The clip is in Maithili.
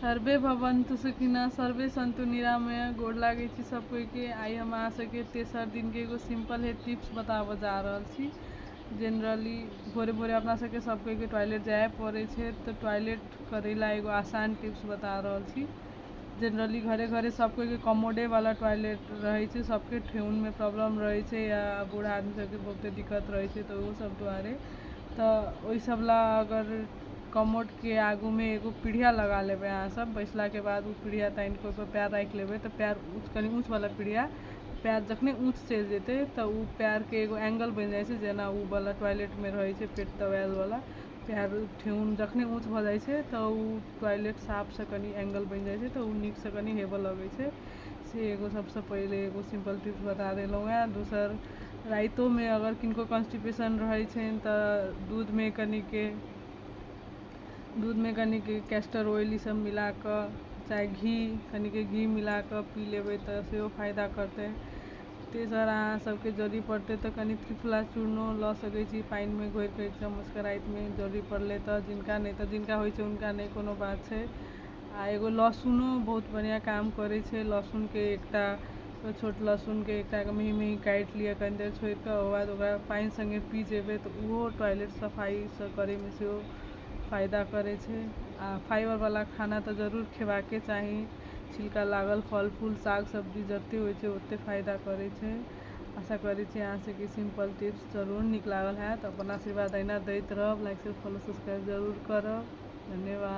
सर्वे भवन्तु सुखिना सर्वे सन्तु निरामय गोड़ लागै छी सब कोई के आई हम अहाँ सबके तेसर दिन के एगो सिंपल हे टिप्स बताबऽ जा रहल छी जनरली भोरे भोरे अपना सबके सब कोई के टॉयलेट जाए पड़ै छै तऽ टॉयलेट करै ला एगो आसान टिप्स बता रहल छी जनरली घरे घरे सब कोई के कमोडे वाला टॉयलेट रहै छै सबके ठेहुन में प्रॉब्लम रहै छै या बूढ़ा आदमी सबके बहुते दिक्कत रहै छै तऽ ओहो सब दुआरे तऽ ओहि सब ला अगर कमोडके आगूमे एगो पीढ़िया लगा लेबै अहाँ सब बैसलाके बाद ओ पीढ़िया तानिके ओहिपर पयर राखि लेबै तऽ पयर ऊँच कनि ऊँच बला पीढ़िया पयर जखने ऊँच चलि जेतै तऽ ओ पयरके एगो एंगल बनि जाइ छै जेना ओ बला टॉयलेटमे रहै छै पेट दबायल बला पयर ठेहुन जखने ऊँच भऽ जाइ छै तऽ ओ टॉयलेट साफ से कनि एंगल बनि जाइ छै तऽ ओ नीक से कनि हेबऽ लगै छै से एगो सबसँ पहिले एगो सिम्पल टिप्स बता देलहुॅं हैं दोसर राइतोमे अगर किनको कॉन्स्टिपेशन रहै छनि तऽ दूधमे कनिक दूधमे कनिक कैस्टर ऑयल ई सब मिलाकऽ चाहे घी कनिक घी मिलाकऽ पी लेबै तऽ सेहो फायदा करतै तेसर अहाँ सबके जड़ी पड़तै तऽ कनी त्रिफला चूर्णो लऽ सकै छी पानिमे घोरिकऽ एक चम्मचके रातिमे जड़ी पड़लै तऽ जिनका नहि तऽ जिनका होइ छै हुनका नहि कोनो बात छै आ एगो लहसुनो बहुत बढ़िआँ काम करै छै लहसुनके एकटा छोट लहसुनके एकटा मेही मेही काटि लिअ कनी देर छोड़ि कऽ ओकर बाद ओकरा पानि सङ्गे पी जेबै तऽ ओहो टॉयलेट सफाइ सभ करैमे सेहो फायदा करै छै आ फाइबरवला खाना तऽ जरूर खेबाके चाही छिलका लागल फल फूल साग सब्जी जतेक होइ छै ओतेक फायदा करै छै आशा करै छी अहाँ सभके सिम्पल टिप्स जरूर नीक लागल होयत अपन आशीर्वाद अहिना दैत रहब लाइक शेयर फॉलो सब्सक्राइब जरूर करब धन्यवाद